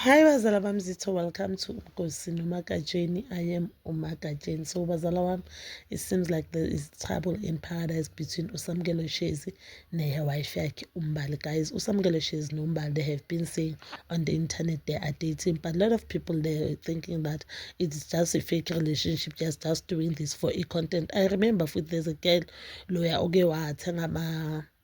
Hi bazala bami zitho welcome to Mgosi noMagatsheni I am uMagatsheni so bazala wami it seems like there is trouble in paradise between uSamkelo Shezi ne-wife yakhe uMbali guys uSamkelo Shezi noMbali they have been saying on the internet they are dating but a lot of people they are thinking that it is just a fake relationship just just doing this for e-content I remember futhi there's a girl loya oke wathenga ama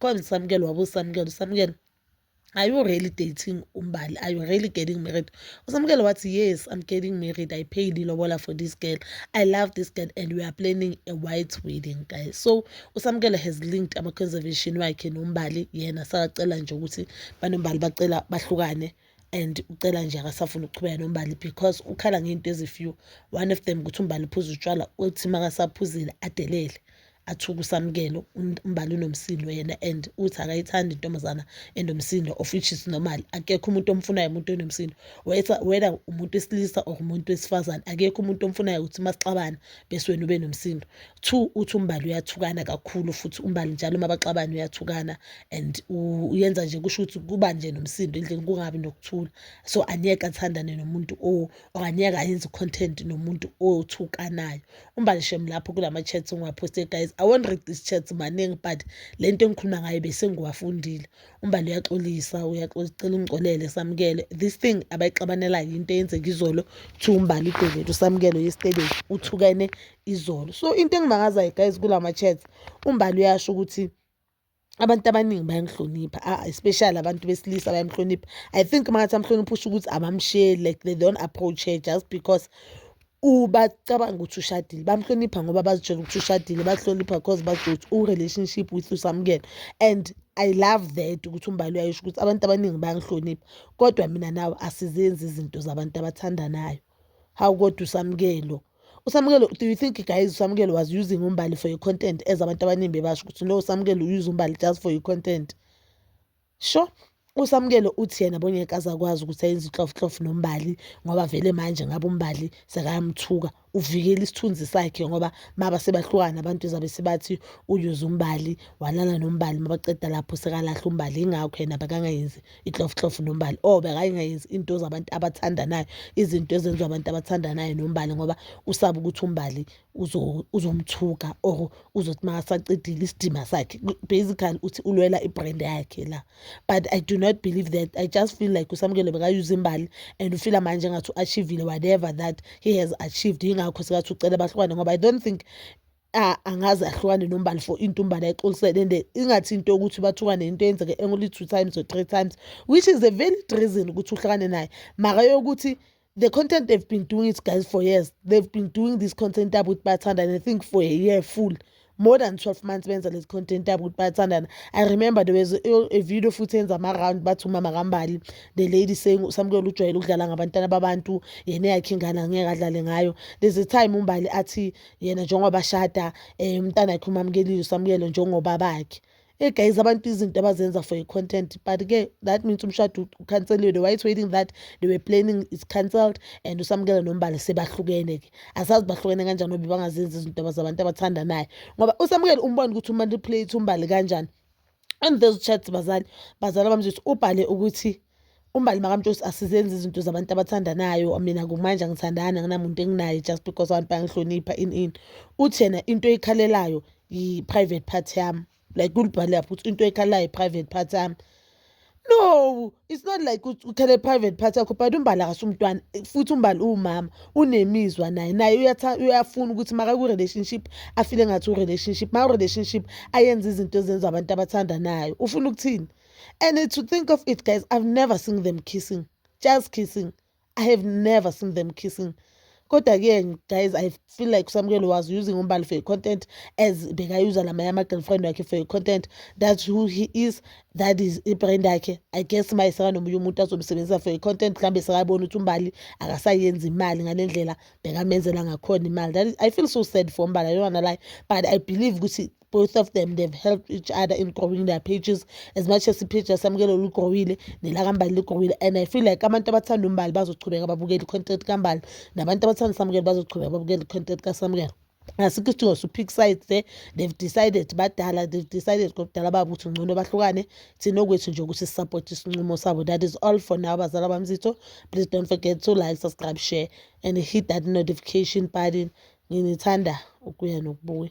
call usamukelo wabo usamukelo usamukelo are you really dating umbali are you really getting married usamukelo wathi yes i'm getting married i paid ilobola for this girl i love this girl and we are planning a white wedding guys so usamukelo has linked ama-conservation wakhe nombali yena sakacela nje ukuthi banombali bacela bahlukane and ucela nje akasafuni ukuqhubeka nombali because ukhala ngey'nto ezifew one of them ukuthi umbali uphuza utshwala uthi makasaphuzile adelele athuke usamukelo umbali unomsindo yena and uthi akayithandi intombazana enomsindo of which is normal akekho umuntu omfunayo umuntu onomsindo whether umuntu wesilisa or umuntu wesifazane akekho umuntu omfunayo ukuthi masixabana bese wena ube nomsindo Two uthi uMbali uyathukana kakhulu futhi uMbali njalo uma baxabana uyathukana and uyenza nje kusho ukuthi kuba nje nomsindo endlini kungabi nokuthula. So angeke athandane nomuntu or angeke ayenze i-content nomuntu othukanayo. UMbali shem lapho kula ma-chats engiwaphoste guys, I won't read these chats maningi but le nto engikhuluma ngayo besengiwafundile. UMbali uyaxolisa, uyaxolisa ucela ungixolele Samukelo. This thing abayixabanelayo yinto eyenzeka izolo kuthiwa uMbali udevele uSamukelo yesterday uthukene izolo so into engimangazayo guys kula ma-chats umbali uyasho ukuthi abantu abaningi bayamhlonipha ah, especially abantu besilisa bayamhlonipha i think mangathi amhlonipha usho ukuthi abamsheli like they don't approach her just because ubacabanga ukuthi ushadile bamhlonipha ngoba bazitshela ukuthi ushadile bahlonipha because bazitshela ukuthi u-relationship with usamukelo and i love that ukuthi umbali uyayisho ukuthi abantu abaningi bayangihlonipha kodwa mina nawe asizenzi izinto zabantu abathandanayo Hawu kodwa uSamkelo. USamkelo, do you think guys uSamkelo was using uMbali for your content as abantu abaningi bebasho ukuthi no uSamkelo use uMbali just for your content. Sho uSamkelo uthi yena bongeke azakwazi ukuthi ayenze ihlofhlof noMbali ngoba vele manje ngabe uMbali sekayamthuka uvikela isithunzi sakhe ngoba maba sebahlukana abantu izabe sebathi uyuze uMbali walala noMbali mabaqeda lapho sekalahla uMbali ingakho yena bakangayenzi itlofutlofu nombali or oh, bekayingayenzi into zabantu abathandanayo izinto ezenziwa abantu abathandanayo nombali ngoba usaba ukuthi umbali uzomthuka or uzothi makasaqedile isidima sakhe basically uthi ulwela ibrand yakhe la but i do not believe that i just feel like usamukelo bekayuza imbali and ufila manje engathi u-achievile whatever that he has achieved yingakho sekathi ucela bahlukane ngoba i don't think angaze ahlukane nombali for into umbali ayixolisele and ingathi into yokuthi bathukane into eyenzeke only two times or three times which is a valid reason ukuthi uhlukane naye maka yokuthi the content they've been doing it guys for years they've been doing this content abo ukuthi bathandane i think for a year full more than 12 months benza lezi content abo ukuthi bathandana i remember there was a, video futhi yenza ama-round bathi umama kambali the lady saying usamukela ujwayele ukudlala ngabantwana babantu yena yakhe ingane angeke adlale ngayo there's a time umbali athi yena njengoba ashada um umntana wakhe umamukelile usamukelo njengoba bakhe Hey guys abantu izinto abazenza for i-content but ke that means umshado ukhanseliwe they were waiting that they were planning is cancelled and usamukela nombala sebahlukene ke asazi bahlukene kanjani nobe bangazenzi izinto abazabantu abathandanayo ngoba usamukela umbona ukuthi umanipulate umbali kanjani and those chats bazali bazali bamtshisi ubhale ukuthi umbali makamtshisi asizenzi izinto zabantu abathandanayo mina kumanje angithandani anginamuntu enginaye just because abantu bangihlonipha in in uthi yena into eyikhalelayo yi-private part yami like ulibhale lapho ukuthi into eyikhalelayo yi-private part yami no it's not like uthele private part yakho but umbali akasumntwana futhi umbali uwumama unemizwa naye naye uyafuna ukuthi makaku-relationship afile ngathi u-relationship maku-relationship ayenze izinto ezenza abantu abathandanayo ufuna ukuthini and to think of it guys i've never seen them kissing just kissing I have never seen them kissing. Kodwa ke guys I feel like Samukelo was using umbali for your content as bekayuza lamanye ama girlfriend wakhe for your content that's who he is that is ibrand yakhe I guess maye sekanomunye umuntu azomsebenzisa for your content mhlawumbe sekabona ukuthi umbali akasayenzi imali ngale ndlela bekamenzela ngakhona imali that is, I feel so sad for umbali I don't wanna lie but I believe ukuthi both of them they've helped each other in growing their pages as much as ipage yasamukela olugrowile nelakambali ligrowile and i feel like abantu abathanda umbali bazochubeka babukela i-content kambali nabantu abathanda samukela bazochubeka babukela i-content kasamukela asikho isidingo su-pick sides there they've decided badala they've decided kobudala babo ukuthi ngcono bahlukane thina okwethu nje ukuthi sisapothe isinqumo sabo that is all for now bazala bamzitho please don't forget to like subscribe share and hit that notification button nginithanda ukuya nokubuya